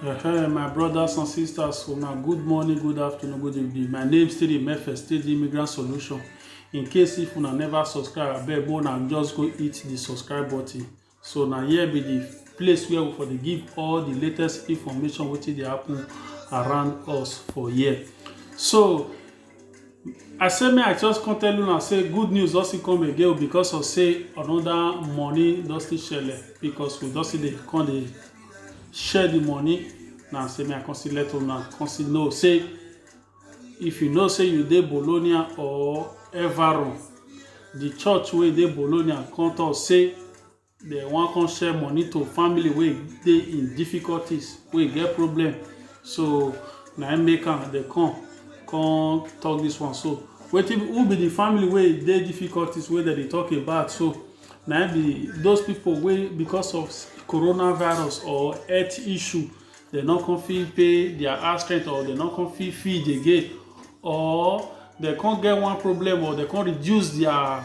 Hey, my brothers and sisters, so now good morning, good afternoon, good evening. My name still the Mefe, still the Immigrant Solution. In case if una never subscribe, abeg more now just go hit the subscribe button. So now here be the place where we for dey give all the latest information wetin dey happen around us for here. So I say me I just come tell una say good news don still come again because of say another money don still shele because we don still dey come dey share the money na say me I come still let una come still know say if you know say you dey Bologna or Everon the church wey dey Bologna come talk say Dey wan come share money to family wey dey in difficulties, wey get problem. So na im make am dey come come talk this one so. Wetin be who be the family wey dey difficulties wey dem dey talk about so? Na im be those people wey because of corona virus or health issue dey no come fit pay their house rent or dey no come fit feed again or dey come get one problem or dey come reduce their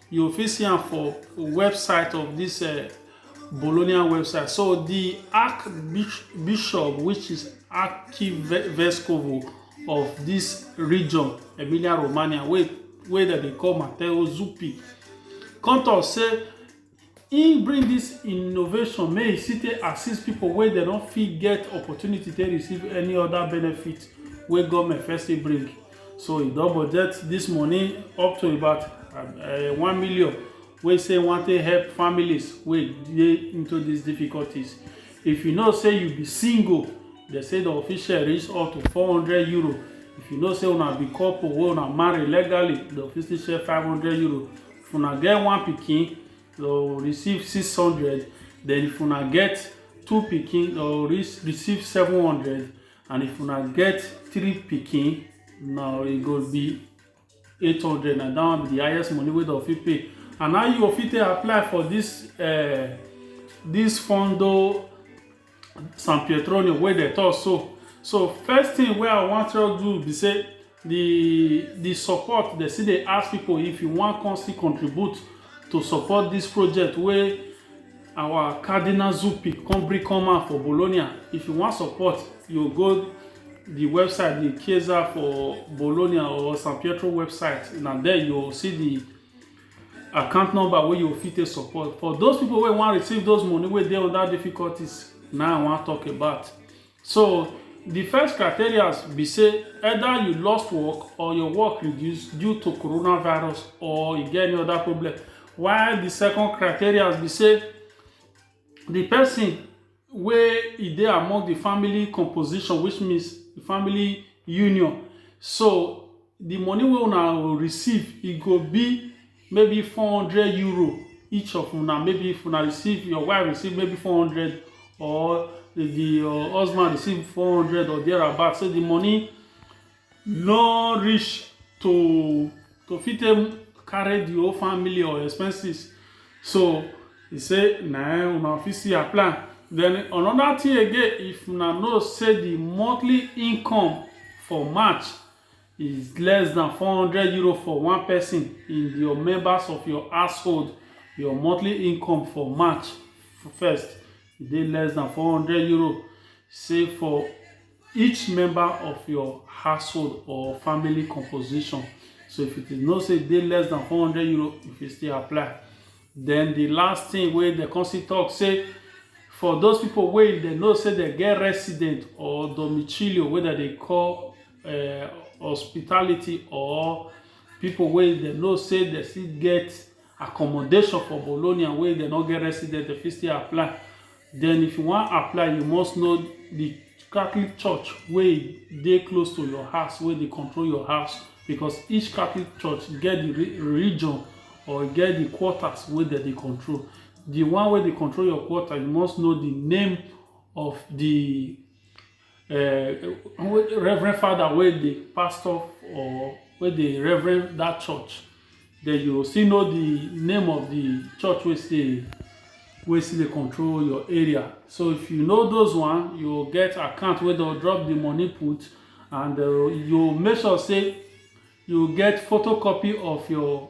You fit see am for website of this uh, Bologna website. So the Archbishop, which is Archivescovo of this region, Emilia Romagna, where, where they call Matteo Zuppi, come talk say he bring this innovation make e still take assist people wey dem no fit get opportunity take receive any other benefit wey government first bring so e don budget this money up to about eh, one million wey say wan take help families wey dey into these difficulties if you know say you be single they say the official reach up to four hundred euro if you know say una be couple wey una marry legally the official share five hundred euro if una get one pikin you receive six hundred then if una get two pikin you receive seven hundred and if una get three pikin now e go be eight hundred na that one be the highest money wey dem fit pay and how you go fit take apply for this uh, this fondo san pietronium wey dem talk so so first thing wey i wan tell you be say the the support they still dey ask people if you wan come still contribute to support this project wey our cardinal zupi come bring come out for bologna if you wan support you go the website the chiesa for bologna or san pietro website na there you go see the account number wey you fit take support for those people wey wan receive those money wey dey under difficulties na i wan talk about So di first criteria be say either you lost work or your work reduce due to coronavirus or you get any other problem. While di second criteria be say di person wey e dey among di family composition which means family union so the money wey una go receive, e go be maybe four hundred euro each of una maybe if una receive your wife receive maybe four hundred or if the your husband receive four hundred or thereabout say the money no reach to to fit take carry the whole family or expenses so he say na im una fit still apply then another thing again if una know say the monthly income for march is less than 400 euro for one person in your members of your household your monthly income for march first e dey less than 400 euro say for each member of your household or family composition so if you know say e dey less than 400 euro you fit still apply Den di last tin wey dem kon still tok sey for those pipo wey dem know sey dem get resident or domicilio wey dem dey call hospitality or pipo wey dem know sey dem still get accommodation for Bologna wey dem no get resident, dem fit still apply Den if you wan apply, you must know di Catholic church wey dey close to your house, wey dey control your house because each Catholic church get di religion or e get di quarters wey dem dey control. Di one wey dey control your quarter, you must know di name of di. eh, reverend father wey dey pastor or wey dey reverend that church then you still know the name of the church wey still wey still dey control your area so if you know those one you get account wey don drop the money put and uh, you make sure say you get photocopy of your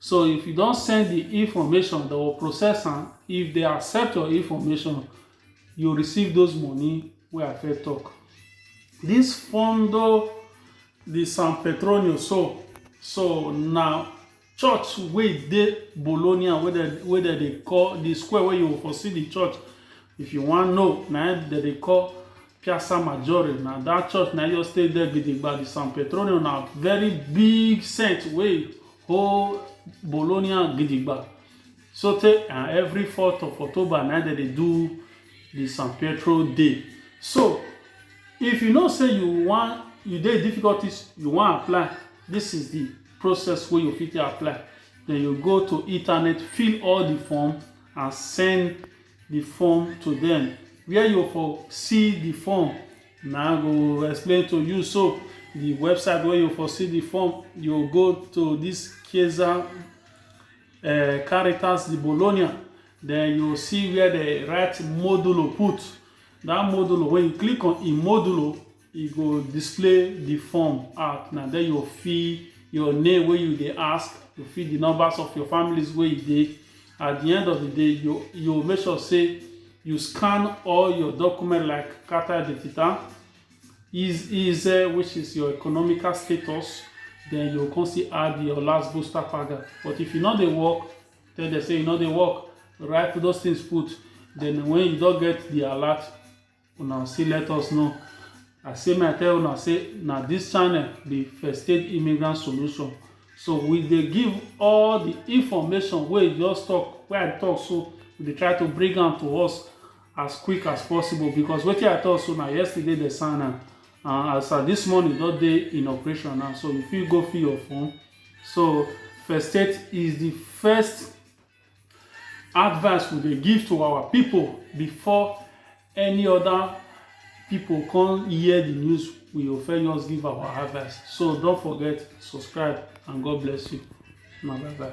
So if you don send the information, they will process am. If they accept your information, you receive those money wey I first talk. This Fondo the San Petronio so so na church wey dey Bologna wey dem wey dem dey call the square wey you for see the church if you wan know na im dem dey call Piazza Maggiore na that church na just stay there gidigba the San Petronio na very big saint wey Hold Bologna gidigba sotey and every fourth of October na dem dey do the San Pietro Day. So if you know say you wan you dey difficulties you wan apply this is the process wey you fit take apply then you go to internet fill all the form and send the form to them where you for see the form na go explain to you so the website where you for see the form you go to this Chiesa uh, Caritas di Bologna then you see where they write modulo put that modulo when you click on in modulo e go display the form out na there you fill your name wey you dey ask you fill the numbers of your families wey you dey At di end of di day, you you make sure say you scan all your document like Carta Identità, ISEE which is your economical status, then you come still add your last booster paga. But if you no dey work, tell them say you no dey work, write those things put, then when you don get the alert, una still let us know i say may i tell una say na this channel be first aid immigrant solution so we dey give all the information wey you just talk wey i talk so we dey try to bring am to us as quick as possible because wetin i talk so na yesterday dey sign am and as at this morning don dey in operation now so you fit go fill your form so first aid is the first Advice we dey give to our pipu before any other pipu come hear the news, we go first just give our advice. So don't forget, subscribe and God bless you. Una bye bye.